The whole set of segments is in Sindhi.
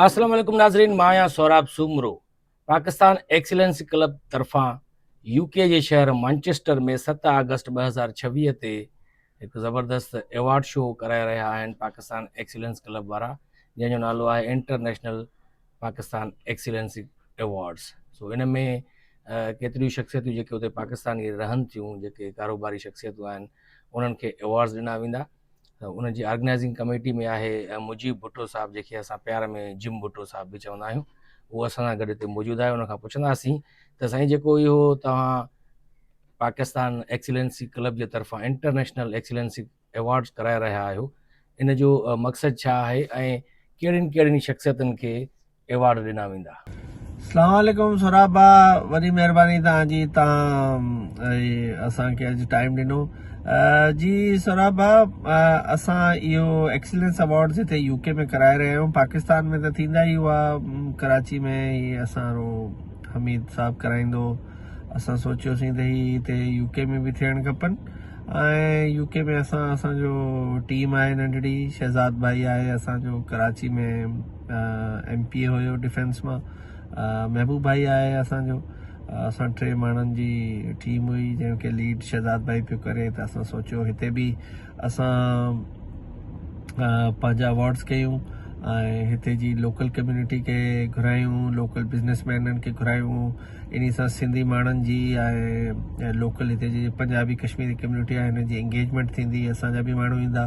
السلام عليڪم ناظرين مان آهيان سهراب سومرو پاڪستان ايڪسيلنس ڪلب طرفان يو ڪي جي شهر مانچسٽر ۾ ست آگسٽ ٻه هزار ڇويهه تي هڪ زبردست ايوارڊ شو ڪرائي رهيا آهن پاڪستان ايڪسيلنس ڪلب وارا جنهن جو نالو آهي انٽرنيشنل پاڪستان ايڪسيلنس ايوارڊس سو ان ۾ ڪيتريون شخصيتون جيڪي اتي پاڪستان جي رهن ٿيون جيڪي ڪاروباري شخصيتون آهن انهن کي ايوارڊس ڏنا ويندا ان جي آرگنائزنگ ڪميٽي ۾ آهي مجيب ڀٽو صاحب جنهن کي اسان پيار ۾ جم ڀٽو صاحب به چوندا آهيون اهو اسان سان گڏ هتي موجود آهي ان کان پڇنداسين ته سائين جيڪو اهو توهان پاڪستان ايڪسلنسي ڪلب جي طرفان انٽرنيشنل ايڪسلنسي ايوارڊز ڪرائي رهيا آهيو ان جو مقصد ڇا آهي ۽ ڪهڙين ڪهڙين شخصيتن کي ايوارڊ ڏنا ويندا. سلام عليڪم سهراب ڀاء وڏي مهرباني توهان جي توهان اسان کي اڄ ٽائيم ڏنو جي سهراب ڀاء اسان اهو ايڪسلينس اوارڊز هتي يو ڪي ۾ ڪرائي رهيا آهيون پاڪستان ۾ ته ٿيندا ئي هئا ڪراچي ۾ هي اسان رو حميد صاحب ڪرائيندو اسان سوچيوسين ته هي هتي يو ڪي ۾ به ٿيڻ کپن ۽ يو ڪي ۾ اسان اسان جو ٽيم آهي ننڍڙي شهزاد ڀائي آهي اسان جو ڪراچي ۾ ايم پي اي هيو ڊفينس مان محبوب ڀائي آهي اسان جو اسان ٽي ماڻهن جي ٽيم هئي جنهن کي ليڊ شهزاد ڀائي پيو ڪري ته اسان سوچيو هتي به اسان پنهنجا اواڊس ڪيون ۽ هتي جي لوڪل ڪميونٽي کي گهرايون لوڪل بزنس مينن کي گهرايون ان سان سنڌي ماڻهن جي ۽ لوڪل هتي جي پنجابي ڪشميري ڪميونٽي آهي هن جي انگيجمنٽ ٿيندي اسان جا به ماڻهو ايندا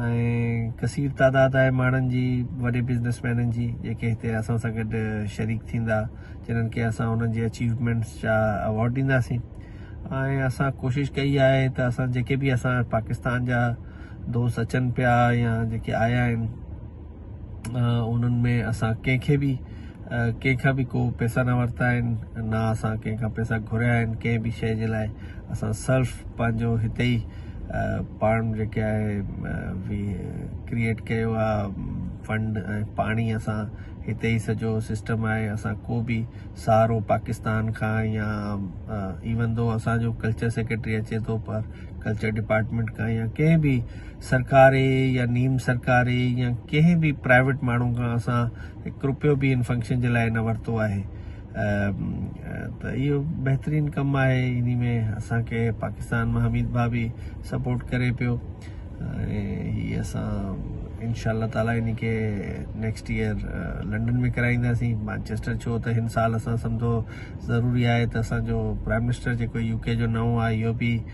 ۽ ڪثير تعداد آهي ماڻهن جي وڏي بزنس مينن جي جيڪي هتي اسان سان گڏ شريڪ ٿيندا جنن کي اسان انهن جي اچيومينٽس جا اوارڊ ڏينداسين ۽ اسان ڪوشش ڪئي آهي ته اسان جيڪي به اسان پاڪستان جا دوست اچن پيا يا جيڪي آيا آهن انهن ۾ اسان ڪنهن کي به ڪنهن کان به ڪو پيسا نه ورتا آهن نه اسان ڪنهن کان پيسا گهريا آهن ڪنهن به شيء جي لاء اسان صرف پنهنجو هتي ئي پاڻ جيڪي آهي ڪرييٽ ڪيو آهي فنڊ ۽ پاڻ ئي اسان هتي ئي سڄو سسٽم آهي اسان ڪو به سهارو پاڪستان کان يا ايون دو اسانجو ڪلچر سيڪريٽري اچي ٿو پر ڪلچر ڊپارٽمنٽ کان يا ڪنهن به سرڪاري يا نيم سرڪاري يا ڪنهن به پرائيويٽ ماڻهو کان اسان هڪ روپيو به ان فنڪشن جي لاء نه ورتو آهي ته اهو بهترين ڪم آهي ان ۾ اسان کي پاڪستان مان حميد ڀاء به سپورٽ ڪري پيو هي اسان انشاء الله تعالي ان کي نيڪسٽ ايئر لنڊن ۾ ڪرائينداسين مانچيسٽر ڇو ته هن سال اسان سمجهو ضروري آهي ته اسانجو پرائم منسٽر جيڪو يو ڪي جو نئون آهي اهو به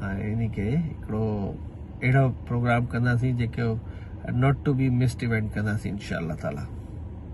انهي کي هڪڙو اهڙو پروگرام ڪنداسين جيڪو not to be missed event ڪنداسين انشاء الله تعالي.